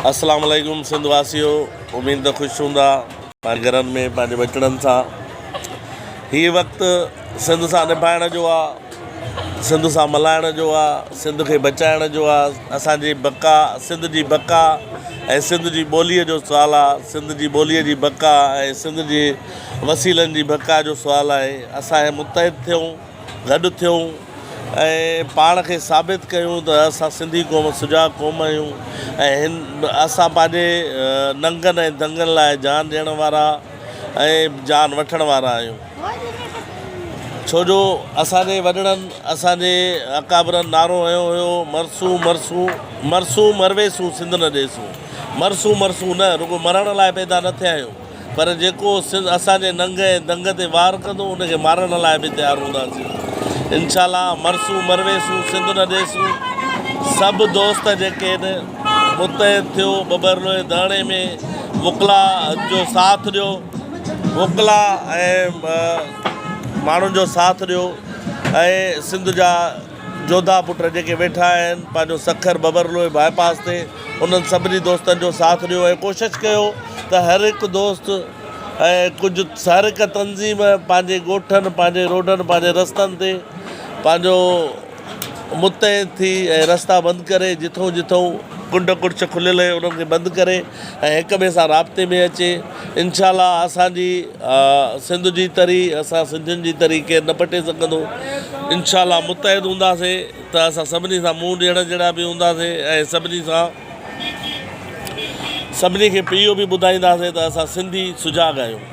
اسلام عليڪم سنڌ واسيو اميد ته خوش هوندا پنهنجي گهرن ۾ پنهنجي ٻچڙن سان هي وقت سنڌ سان نڀائڻ جو آ سنڌ سان ملائڻ جو آ سنڌ کي بچائڻ جو آ اسان جي بقا سنڌ جي بقا ۽ سنڌ جي ٻولي جو سوال آ سنڌ جي ٻولي جي بقا ۽ سنڌ جي وسيلن جي بقا جو سوال آهي اسان هي متحد ٿيون گڏ ٿيون ۽ پاڻ کي ثابت ڪيون ته اسان سنڌي قوم سجاڳ قوم آهيون ۽ اسان پنهنجي ننگن ۽ دنگن لاء جان ڏيڻ وارا ۽ جان وٺڻ وارا آهيون ڇو جو اسان جي وڏڙن اسان جي اڪابرن نعرو هنيو هيو مرسون مرسون مرسون مرويسون سنڌ نه ڏيسون مرسون مرسون نه رڳو مرڻ لاء پيدا نه ٿيا آهيون پر جيڪو سنڌ اسان جي ننگ ۽ دنگ تي وار ڪندو ان کي مارڻ لاء به تيار هونداسين انشاءالله مرسون مرويسون سنڌ نه ڏيسون سڀ دوست جيڪي هن متحد ٿيو ٻٻرلوئي ڌرڻي ۾ وڪلا جو ساٿ ڏيو وڪلا ۽ ماڻهن جو ساٿ ڏيو ۽ سنڌ جا جوڌا پٽ جيڪي ويٺا آهن پنهنجو سکر ببرلوئي باء پاس تي انهن سڀني دوستن جو ساٿ ڏيو ۽ ڪوشش ڪيو ته هر هڪ دوست ۽ ڪجهه هر هڪ تنظيم پنهنجي ڳوٺن پنهنجي روڊن پنهنجي رستن تي پنهنجو متحد ٿي ۽ رستا بند ڪري جٿون جٿون ڪنڊ ڪڙڇ کليل هي انهن کي بند ڪري ۽ هڪ ٻئي سان رابطي ۾ اچي انشاء الله اسان جي سنڌ جي تري اسان سنڌين جي تري ڪير نه پٽي سگهندو انشاء الله متحد هونداسين ته اسان سڀني سان منهن ڏيڻ جهڙا به هونداسين ۽ سڀني سان سڀني کي اهو به ٻڌائينداسين ته اسان سنڌي سجاڳ آهيون